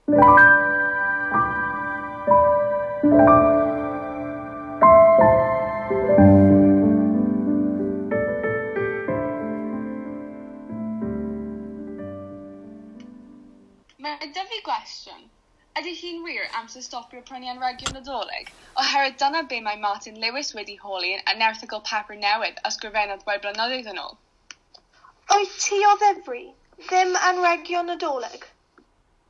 Mae dyfu fi gwestiwn. Ydy hi'n wir amser stopio prynu anrhegion Nadolig? Oherwydd dyna be mae Martin Lewis wedi holi yn erthygl papur newydd a sgrifennodd rai blynyddoedd yn ôl. Wyt ti o ddifri? Ddim anrhegio Nadolig?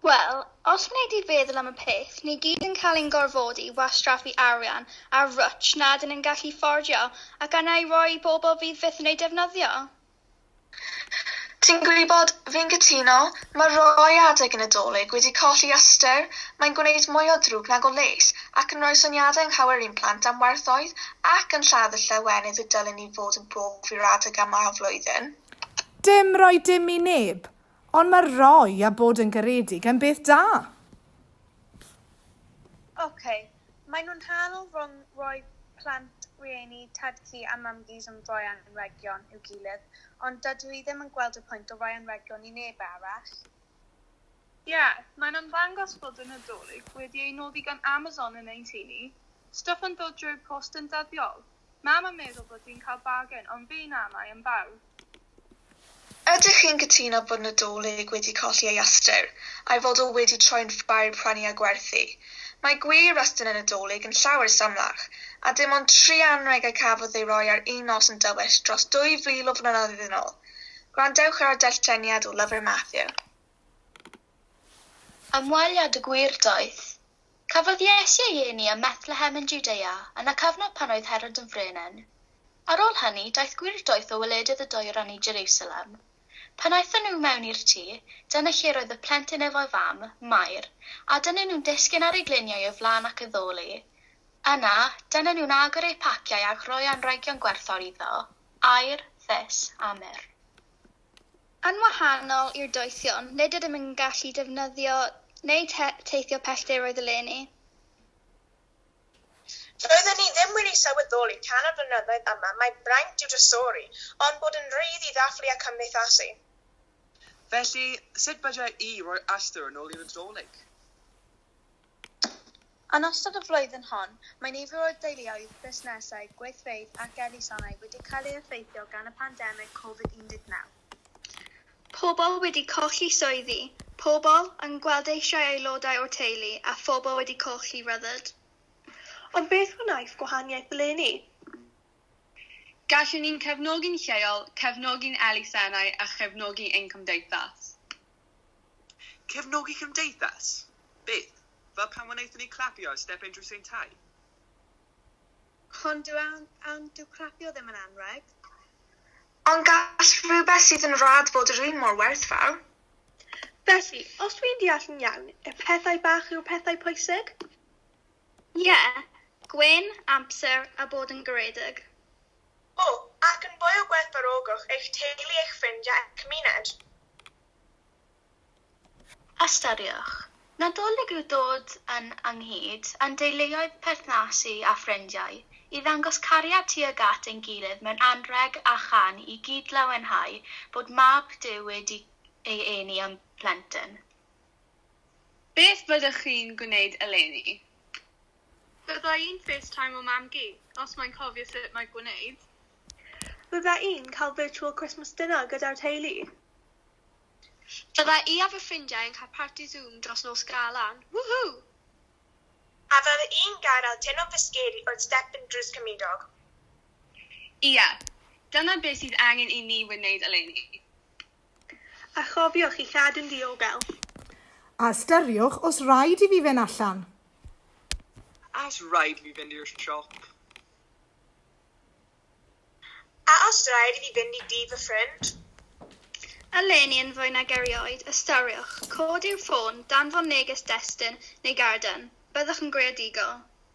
Wel, os wnei di feddwl am y peth, ni gyd yn cael ein gorfodi i wastraffu arian ar rwtsh na ydyn yn gallu fforddio ac arna i roi i bobl fydd byth yn ei defnyddio. Ti'n gwybod, fi'n cytuno, mae rhoi adeg i Nadolig wedi colli ystyr, mae'n gwneud mwy o ddrwg nag o les ac yn rhoi syniadau anghywir i'n plant am werthoedd ac yn lladd y llawenydd y dylen ni fod yn eu i fod yn brofi yr adeg yma o'r flwyddyn. Dim rhoi dim i neb, ond mae rhoi a bod yn garedig yn beth da. Ok, maen nhw'n hal rhwng rhoi plant, rhieni, tad-cu a mam-gus yn rhoi anrhegion i'w gilydd, ond dydw i ddim yn gweld y pwynt o roi anrhegion i neb arall. Ie, mae'n ymddangos fod y Nadolig wedi ei noddi gan Amazon yn ein tŷ ni, stwff yn dod drwy'r post yn ddyddiol, Mam yn meddwl bod hi'n cael bargen, ond fi na, mae yn bardd. Ydych chi'n cytuno bod Nadolig wedi colli ei ystyr, a'i fod o wedi troi'n ffair i prynu a gwerthu? Mae gwir restr y Nadolig yn llawer symlach, a dim ond tri anrheg y cafodd ei roi ar un nos yn dywyll dros 2,000 o flynyddoedd yn ôl. Gwrandewch ar y darlleniad o lyfr Mathew. Ymweliad y Gwir Daith. Cafodd Iesu ei eni ym Methlehem yn Jwdea yn y cyfnod pan oedd Herod yn frenin. Ar ôl hynny, daeth gwirdoeth o wledydd y Dwyrain i Jerusalem. Pan aethon nhw mewn i'r tŷ, dyna lle roedd y plentyn efo'i fam, Mair, a dyna nhw'n disgyn ar eu gliniau o flaen ac addoli. Yna, dyna nhw'n agor eu paciau a'ch rhoi anrhegion gwerthfawr iddo, aur, fys, a myr. Yn wahanol i'r doethion, nid ydym yn gallu defnyddio neu teithio pellteroedd eleni. Doedden ni ddim wedi sylweddoli tan y blynyddoedd yma mai braint yw drysori, ond bod yn rhydd i ddathlu a cymdeithasu. Felly, sut byddai i roi ystyr yn ôl i'r Nadolig? Yn ystod y flwyddyn hon, mae nifer o deuluoedd, busnesau, gweithfeydd ac elusennau wedi cael ei effeithio gan y pandemig Covid 19. Pobl wedi colli swyddi, pobl yn gwrandeisio'i aelodau o'r teulu a phobl wedi colli rhyddid. Ond beth wnaeth gwahaniaeth eleni? Gallwn ni'n cefnogi'n lleol, cefnogi'n elusennau a chefnogi ein cymdeithas. Cefnogi cymdeithas? Beth? Fel pan wnaethon ni clapio ar step Unrhyw Saint Ty? Hon dyw awn awn dyw clapio ddim yn anrheg. Ond gall rhywbeth sydd yn rad fod yr un mor werthfawr. Felly, os dwi'n deall yn iawn, y pethau bach yw'r pethau pwysig? Ie, gwên, amser a bod yn garedig. O, ac yn fwy o gwerthfawrogwch eich teulu, eich ffrind a eich cymuned. Ystyriwch. Nadolig yw dod yn ynghyd â'n deuluoedd perthnasu a ffrindiau i ddangos cariad tuag at ein gilydd mewn anrheg a chan i gyd-lawenhau bod Mab Duw wedi ei eni â'n plentyn. Beth fyddwch chi'n gwneud eleni? Bydda i'n facetimo mam-gu, os mae'n cofio sut mae gwneud. Bydda i'n cael virtual Christmas dinner gyda'r teulu. Bydda i a fy ffrindiau yn cael parti Zoom dros nos Galan. Woohoo! A fydda i'n gadael teimlo'n fysgedi wrth step yn drws cymydog. Ie, dyna beth sydd angen i ni wneud eleni. A chofiwch i chadw'n ddiogel. A ystyriwch os raid i fi fynd allan. A os raid i fi fynd i'r siop. A os raid i fi fynd i dŷ fy ffrind. Eleni yn fwy nag erioed, ystyriwch, codi'w ffôn, danfon neges destun neu garden, byddwch yn greadigol.